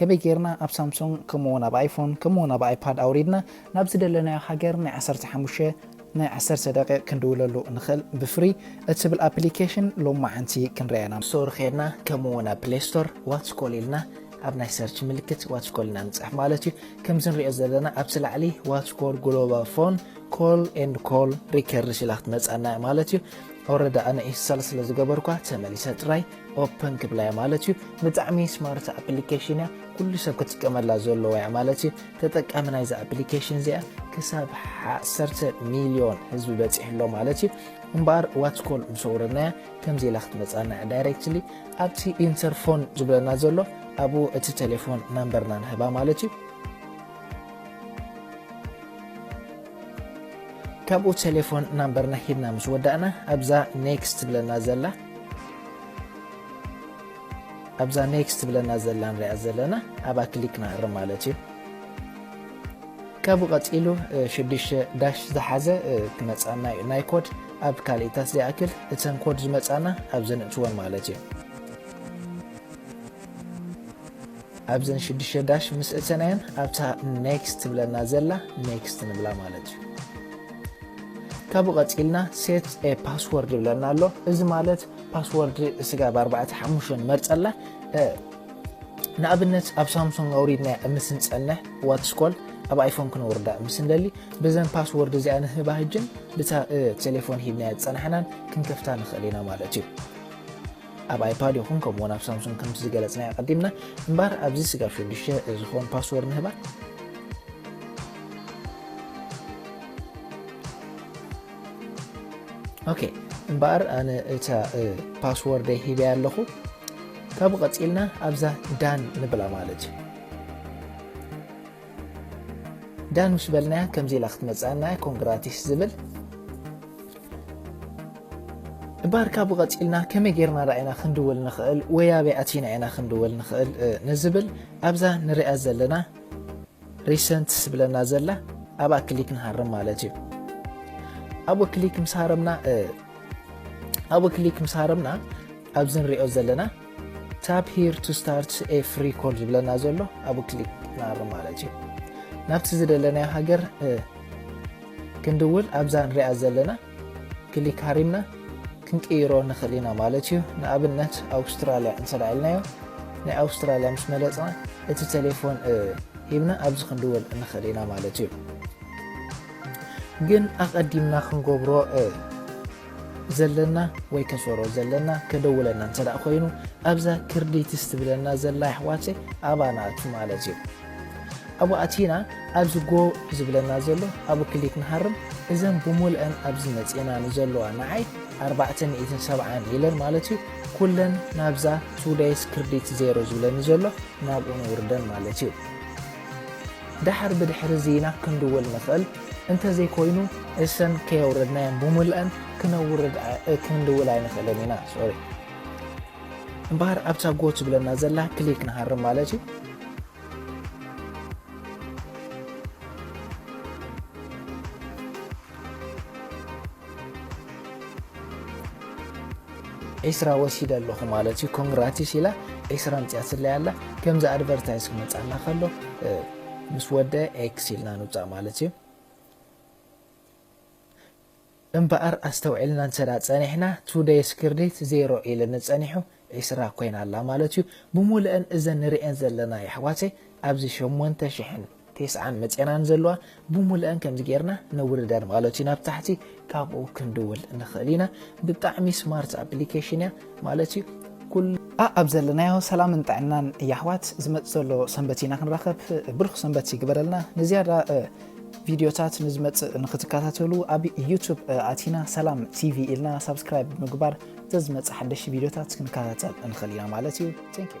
ከመይ ጌርና ኣብ ሳምሶንግ ከምኡ ውን ኣብ ኣይፎን ከምኡ ውን ኣብ ኣይፓድ ኣውሪድና ናብ ዝደለናዮ ሃገር ናይ ዓሰርተ ሓሙሽተ ናይ ዓሰርተ ደቂቅ ክንድውለሉ ንክእል ብፍሪ እትብል ኣፕሊከሽን ሎማዓንቲ ክንሪኣ ኢና። ስቶር ኬድና ከምኡ ውን ኣብ ፕሌይ ስቶር ዋትስኮል ኢልና ኣብ ናይ ሰርች ምልክት ዋትስኮል ኢና ንጽሕፍ ማለት እዩ። ከምዚ ንሪኦ ዘለና ኣብቲ ላዕሊ ዋትስኮል ግሎባል ፎን ኮል ኤንድ ኮል ሪከርድስ ኢላ ክትመጽኣና እያ ማለት እዩ። ኦረዲ ኣነ ኢንስታል ስለ ዝገበርኳ ተመሊሰ ጥራይ ኦፕን ክብላ እየ ማለት እዩ ብጣዕሚ ስማርት ኣፕሊኬሽን እያ ኩሉ ሰብ ክጥቀመላ ዘለዎ እያ ማለት እዩ ተጠቃሚ ናይዚ ኣፕሊኬሽን እዚኣ ክሳብ 1 ሚልዮን ህዝቢ በፂሑ ኣሎ ማለት እዩ እምበኣር ዋትኮል ምስ ኣውረድናያ ከምዚ ኢላ ክትመፃና እያ ዳይሬክትሊ ኣብቲ ኢንተርፎን ዝብለና ዘሎ ኣብኡ እቲ ቴሌፎን ናምበርና ንህባ ማለት እዩ ካብኡ ቴሌፎን ናምበርና ሂብና ምስ ወዳእና ኣብዛ ኔክስት ትብለና ዘላ ኣብዛ ኔክስት ትብለና ዘላ ንሪኣ ዘለና ኣብኣ ክሊክ ንኣርም ማለት እዩ ካብኡ ቀፂሉ ሽዱሽተ ዳሽ ዝሓዘ ክመፃና እዩ ናይ ኮድ ኣብ ካልኢታት ዘይኣክል እተን ኮድ ዝመፃና ኣብ ዘንእትወን ማለት እዩ ኣብዘን ሽዱሽተ ዳሽ ምስ እተናየን ኣብታ ኔክስት ትብለና ዘላ ኔክስት ንብላ ማለት እዩ ካብኡ ቀጺልና set a password ይብለና ኣሎ እዚ ማለት ፓስወርድ ስጋብ ኣርባዕተ ሓሙሽተ ንመርጸላ ንኣብነት ኣብ ሳምሶንግ ኣውሪድና ምስ ንጸንሕ ዋትስኮል ኣብ ኣይፎን ክነውርዳ ምስ ንደሊ ብዘን ፓስወርድ እዚኣ ንህባ ህጅን ብታ ቴሌፎን ሂብናያ ዝጸናሕናን ክንከፍታ ንኽእል ኢና ማለት እዩ ኣብ ኣይፓድ ይኹን ከምኡ ውን ኣብ ሳምሱንግ ከምቲ ዝገለጽናዮ ኣቐዲምና እምበኣር ኣብዚ ስጋብ ሽዱሽተ ዝኸውን ፓስወርድ ንህባ ኦኬ እምበኣር ኣነ እታ ፓስወርደይ ሂበያ ኣለኹ ካብኡ ቀጺልና ኣብዛ ዳን ንብላ ማለት እዩ ዳን ምስ በልናያ ከምዚ ኢላ ክትመጽኣና እያ ኮንግራቲስ ዝብል እምበኣር ካብኡ ቀጺልና ከመይ ጌርና ደኣ ኢና ክንድውል ንኽእል ወይ ኣበይ ኣቲና ኢና ክንድውል ንኽእል ንዝብል ኣብዛ ንሪኣ ዘለና ሪሰንት ዝብለና ዘላ ኣብኣ ክሊክ ንሃርም ማለት እዩ ኣብኡ ክሊክ ምስ ሃረምና ኣብኡ ክሊክ ምስ ሃረምና ኣብዚ ንሪኦ ዘለና Tap here to start a free call ዝብለና ዘሎ ኣብኡ ክሊክ ንኣርም ማለት እዩ ናብቲ ዝደለናዮ ሃገር ክንድውል ኣብዛ ንሪኣ ዘለና ክሊክ ሃሪምና ክንቅይሮ ንኽእል ኢና ማለት እዩ ንኣብነት ኣውስትራልያ እንተ ኢልናዮ ናይ ኣውስትራልያ ምስ መለፅና እቲ ቴሌፎን ሂብና ኣብዚ ክንድውል ንኽእል ኢና ማለት እዩ ግን ኣቐዲምና ክንገብሮ ዘለና ወይ ከሶሮ ዘለና ከደውለና እንተ ኮይኑ ኣብዛ ክርዲትስ ትብለና ዘላ ይሕዋት ኣባና ኣቱ ማለት እዩ ኣብ ኣቲና ኣብዚ ጎ ዝብለና ዘሎ ኣብ ክሊክ ንሃርም እዘን ብሙልአን ኣብዚ መፅና ንዘለዋ ንዓይ 470 ኢለን ማለት እዩ ኩለን ናብዛ ቱደይስ ክርዲት ዜሮ ዝብለኒ ዘሎ ናብኡ ንውርደን ማለት እዩ ዳሓር ብድሕሪ ዚና ክንድውል ንኽእል እንተ ዘይኮይኑ እሰን ከየውረድናየን ብሙልኣን ክነውርድ ክንድውል ኣይንክእልን ኢና ሶሪ እምበኣር ኣብታ ጎ ትብለና ዘላ ክሊክ ንሃርም ማለት እዩ ዒስራ ወሲደ ኣለኹ ማለት እዩ ኮንግራቲስ ኢላ ዒስራ ኣምፂኣትለይ ኣላ ከምዚ ኣድቨርታይዝ ክመፅኣና ከሎ ምስ ወደ ኤክስ ኢልና ንውጻእ ማለት እዩ። እምበኣር ኣስተውዒልና እንተድኣ ጸኒሕና ቱደይስ ክርዲት ዜሮ ኢልኒ ጸኒሑ ዕስራ ኮይና ኣላ ማለት እዩ። ብሙሉኤን እዘን ንርእየን ዘለና የሕዋተይ ኣብዚ ሸሞንተ ሽሕን ቴስዓን መጼናን ዘለዋ ብሙሉኤን ከምዚ ጌርና ነውርደን ማለት እዩ ናብ ታሕቲ ካብኡ ክንድውል ንኽእል ኢና ብጣዕሚ ስማርት ኣፕሊኬሽን እያ ማለት እዩ ኩሉ ኣኣብ ዘለናዮ ሰላምን ጥዕናን የሕዋት ዝመፅ ዘሎ ሰንበት ኢና ክንራኸብ ብሩኽ ሰንበት ይግበረልና ንዝያዳ ቪድዮታት ንዝመፅእ ንክትከታተሉ ኣብ ዩቱብ ኣቲና ሰላም ቲቪ ኢልና ሳብስክራይብ ብምግባር ዘዝመፅእ ሓደሽ ቪድዮታት ክንከታተል ንኽእል ኢና ማለት እዩ ቴንክ ዩ